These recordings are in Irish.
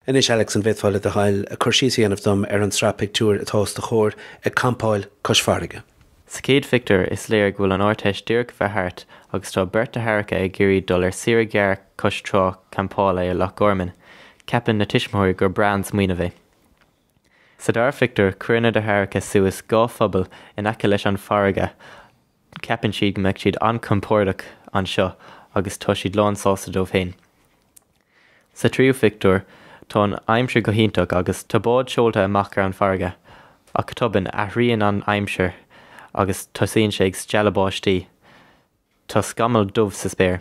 Anois Alex, an bhféadfá le do thoil cur síos a dhéanamh dom ar an tsraith pictiúir atá os do chomhair, ag campáil cois farraige? Sa chéad phictiúr, is léir go bhfuil an Ardteist díreach bheith thart agus tá beirt deartháireacha ag iarraidh dul ar saoire ghearr cois trá campála i Loch Gorman. Ceapann na tuismitheoirí gur breá an smaoineamh é. Sa dara phictiúr, cuireann na deartháireacha suas dhá phuball in aice leis an bhfarraige, Ceapann siad go mbeadh siad an-chompordach anseo agus tá siad lán sásta dóibh féin. Sa tríú phictiúr, tá an aimsir go hiontach agus tá bád seolta amach ar an bhfarraige, ach tobann, athraíonn an aimsir agus tosaíonn sé ag stealladh báistí. Tá scamall dubh sa spéir.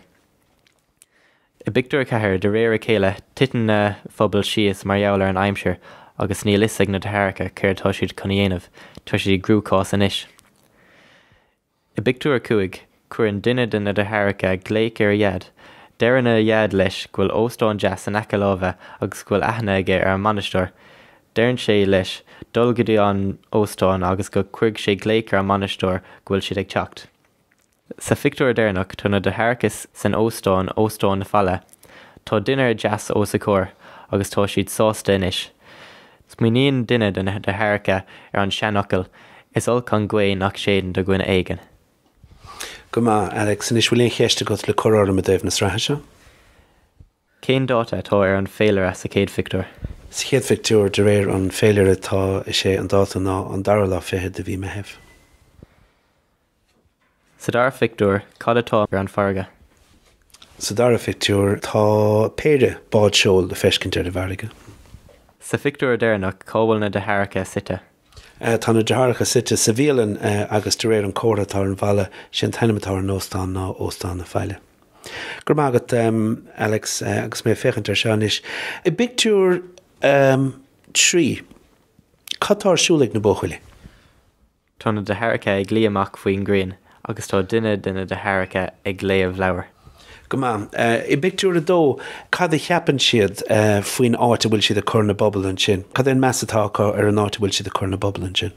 I bpictiúr 4, de réir a chéile, titeann na pubaill síos mar gheall ar an aimsir agus níl 'fhios ag na deartháireacha céard atá siad chun a dhéanamh, tá siad i gcruachás anois. I bpictiúr 5, cuireann duine de na deartháireacha glaoch ar a dhaid. Deireann a dhaid leis go bhfuil óstán deas in aice láimhe agus go bhfuil aithne aige ar an mbainisteoir. Deireann sé leis dul go dtí an óstán agus go gcuirfidh sé glaoch ar an mbainisteoir go bhfuil siad ag teacht. Sa phictiúr deireanach tá na deartháireachas san óstán, Óstán na Faille. Tá dinnéar deas os a gcomhair agus tá siad sásta anois. Smaoiníonn duine de na deartháireacha ar an seanfhocal, Is olc an ghaoth nach séideann do dhuine éigin. Go maith, Alex. Anois, bhfuil aon cheist agat le cur orm i dtaobh na sraithe seo? Cén dáta atá ar an féilire sa chéad phictiúr? Sa chéad phictiúr, de réir an féilire, atá, sé an dáta ná an dara lá fichead de mhí Meithimh. Sa dara phictiúr, cad atá ar an bhfarraige? Sa dara phictiúr, tá péire bád seoil le feiscint ar an bhfarraige. Sa phictiúr deireanach, cá bhfuil na deartháireacha suite? Tá na deartháireacha suite sa bhialann agus de réir an comhartha atá ar an bhalla, sé an t-ainm atá ar an óstán ná Óstán na Faille. Go raibh maith agat, Alex, agus mé ag féachaint air seo anois, i bpictiúr a trí, cad tá ar siúl ag na buachaillí? Tá na deartháireacha ag luí amach faoin ghrian agus tá duine de na deartháireacha ag léamh leabhar. Go maith. I bpictiúr a dó, cad a cheapann siad faoin áit a bhfuil siad ag cur na bpuball ansin? Cad é an meas atá acu ar an áit a bhfuil siad ag cur na bpuball ansin?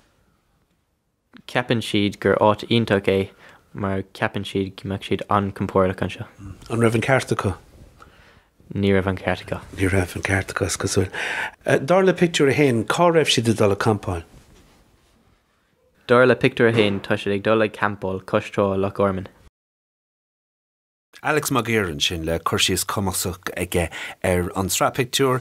Ceapann siad gur áit iontach é mar ceapann siad go mbeadh siad an-chompordach anseo. An raibh an ceart acu? Ní raibh an ceart acu. Ní raibh an ceart acu, is cosúil. Dar le pictiúr a haon, cá raibh siad ag dul ag campáil? Dar le Pictiúr 1, tá siad ag dul ag campáil cois trá i Loch Gorman. Alex Mag Uidhir ansin le cur síos cumasach aige ar an tsraith pictiúr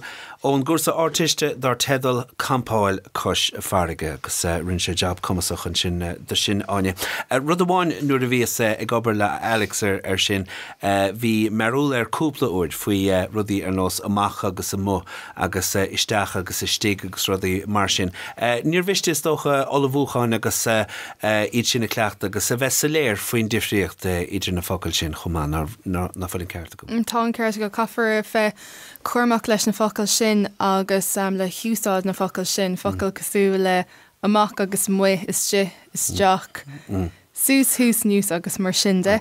ón gcúrsa Ardteiste dar teideal 'Campáil Cois Farraige' agus rinne sé jab cumasach ansin de sin, Áine. Rud amháin nuair a bhíos ag obair le Alex ar sin, Eh, bhí mearbhall air cúpla uair, faoi eh, rudaí ar nós amach agus amuigh agus eh, isteach agus istigh agus rudaí mar sin. Eh, níor mhiste is dócha ullmhúchán agus eh, eh, iad sin a chleachtadh agus a bheith soiléir faoin difríocht eh, idir na focail sin chomh maith, ná, ná, ná fuil an ceart agam? Mm, tá an ceart agat, caithfear a bheith cúramach leis na focail sin agus em, le húsáid na bhfocal sin, focail cosúil le amach agus amuigh, istigh, isteach, suas thuas anuas agus mar sin de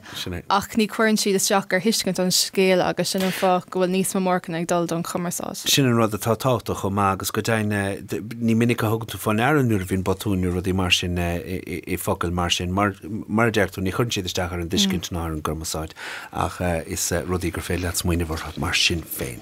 ach ní chuireann siad isteach ar thuiscint an scéil agus sin an fáth go bhfuil níos mó marcanna ag dul don chumarsáid. Sin an rud atá tábhachtach chomh maith agus go deimhin ní minic a thugann tú faoi ndeara nuair a bhíonn botúin nó rudaí mar sin i focail mar sin mar, mar a deir tú, ní chuireann siad isteach ar an dtuiscint ná ar an gcumarsáid ach is rudaí gur féidir leat smaoineamh orthu mar sin féin.